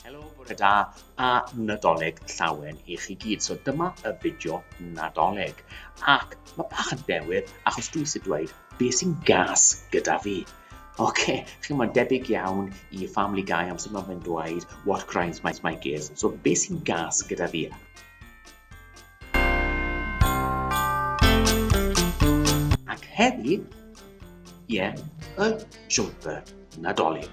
Helo, bore da a Nadolig llawen i chi gyd. So dyma y fideo Nadolig. Ac mae bach yn dewydd achos dwi eisiau dweud be sy'n gas gyda fi. Oce, okay, chi'n ma'n debyg iawn i Family Guy am sut mae fe'n dweud what grinds my, my gears. So be sy'n gas gyda fi? Ac heddi, ie, y jumper Nadolig.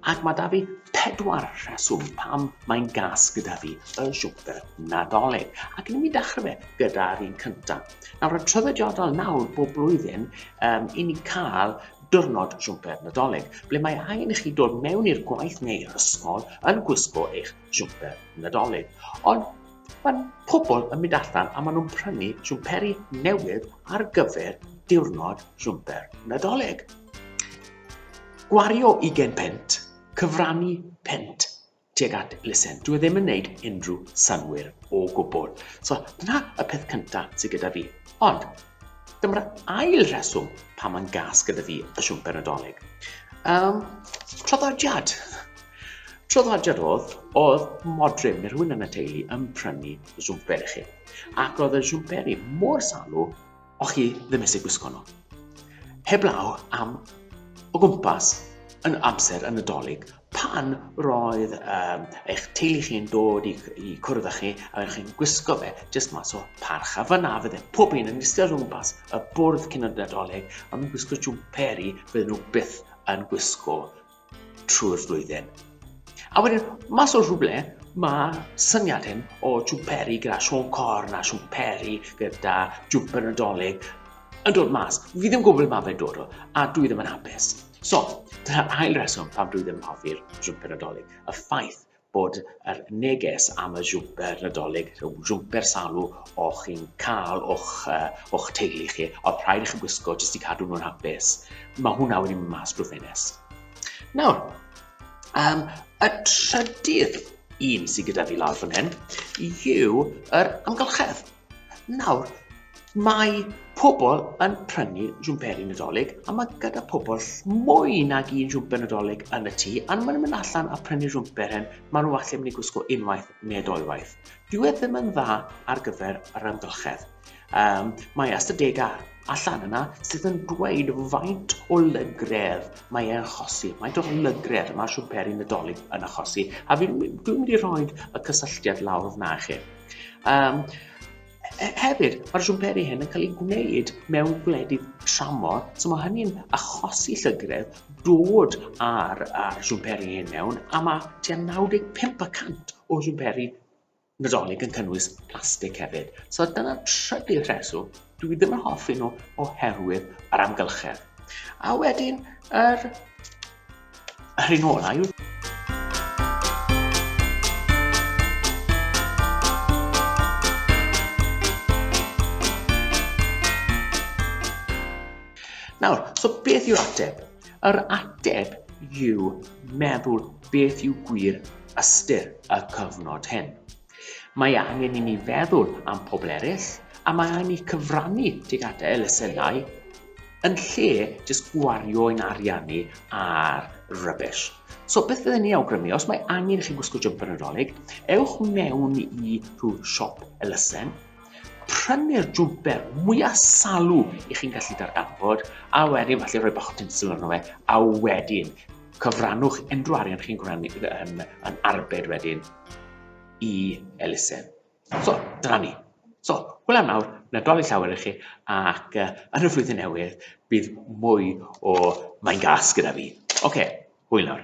Ac mae da fi pedwar rheswm pam mae'n gas gyda fi y jumper Nadolig. Ac yn mynd i dechrau fe gyda'r un cyntaf. Nawr, yn trefediadol nawr bob blwyddyn, um, i ni cael diwrnod jumper Nadolig, ble mae angen i chi dod mewn i'r gwaith neu'r ysgol yn gwisgo eich jumper Nadolig. Ond Mae pobl yn mynd allan a maen nhw'n prynu siwmperi newydd ar gyfer diwrnod siwmper Nadolig. Gwario 20 pent, cyfrannu pent tuag at elusen. Dwi e ddim yn gwneud unrhyw synwyr o gwbl. So, dyna y peth cyntaf sydd gyda fi. Ond, Dyma'r ail rheswm pa mae'n gas gyda fi y siwmper nadolig. Um, traddodiad. Traddodiad oedd, oedd modryb neu rhywun yn y teulu yn prynu siwmper i chi. Ac oedd y siwmperi mor salw o chi ddim eisiau gwisgo nhw. Heblaw am o gwmpas yn amser yn y dolyg, Pan roedd ehm eich teulu chi'n dod i i cwrdd â chi a oedd chi'n gwisgo fe jyst mas o parch a fyna fydde pob un yn iste o gwmpas y bwrdd cyn y Nadolig a mewn gwisgo jwmperi bydden nhw byth yn gwisgo trwy'r flwyddyn. A wedyn, mas o rhywle, mae syniad hyn o jwmperi gyda Siôn Corn a siwmperi gyda jwmper Nadolig yn dod mas. Fi ddim yn gwybod ble mae fe'n dod o a dwi ddim yn hapus. So, dyna ail reswm pam dwi ddim yn hoffi'r jwmper nadolig. Y ffaith bod yr neges am y jwmper nadolig, y jwmper salw o chi'n cael o'ch, uh, o'ch teulu chi, oedd rhaid i chi gwisgo jyst i cadw nhw'n hapus, mae hwnna wedi mynd mas drwy ffenes. Nawr, um, y trydydd un sydd gyda fi lawr fan hyn yw yr amgylchedd. Nawr, mae pobl yn prynu jwmperi Nadolig, a mae gyda pobl mwy nag un jwmper Nadolig yn y tŷ, a maen nhw'n mynd allan a prynu jwmper hyn, maen nhw allan mynd i gwisgo unwaith neu doiwaith. Dwi e ddim yn dda ar gyfer yr amgylchedd. Um, mae ystadegau allan yna sydd yn dweud faint o lygredd mae e'n achosi, faint o lygredd mae siwmperi Nadolig yn achosi, a dwi'n mynd i roi y cysylltiad lawr fyna i chi. Um, hefyd, mae'r siwmperi hyn yn cael ei gwneud mewn gwledydd tramor, so mae hynny'n achosi llygredd dod ar a siwmperi hyn mewn, a mae tua 95% o siwmperi Nadolig yn cynnwys plastig hefyd. So dyna'r trydydd rheswm Dwi ddim yn hoffi nhw oherwydd yr amgylchedd. A wedyn, yr... yr un ola yw... Nawr, so beth yw'r ateb? Yr ateb yw meddwl beth yw gwir ystyr y cyfnod hyn. Mae angen i ni feddwl am pobl eraill a mae angen i ni cyfrannu tuag at elusennau yn lle jyst gwario ein arian ni ar rubbish. So beth fydden ni awgrymu, os mae angen i chi gwisgo jumper yn Nadolig, ewch mewn i rhyw siop elusen, prynu'r jwmper mwyaf salw i chi'n gallu darganfod, a wedyn falle rhoi bach o tinsel arno fe, a wedyn cyfrannwch unrhyw arian chi'n gwrando yn, yn arbed wedyn i elusen. So, dyna ni. So, hwyl am nawr, Nadolig llawer i chi, ac uh, yn y flwyddyn newydd, bydd mwy o mae'n gas gyda fi. Oce, okay, hwyl nawr.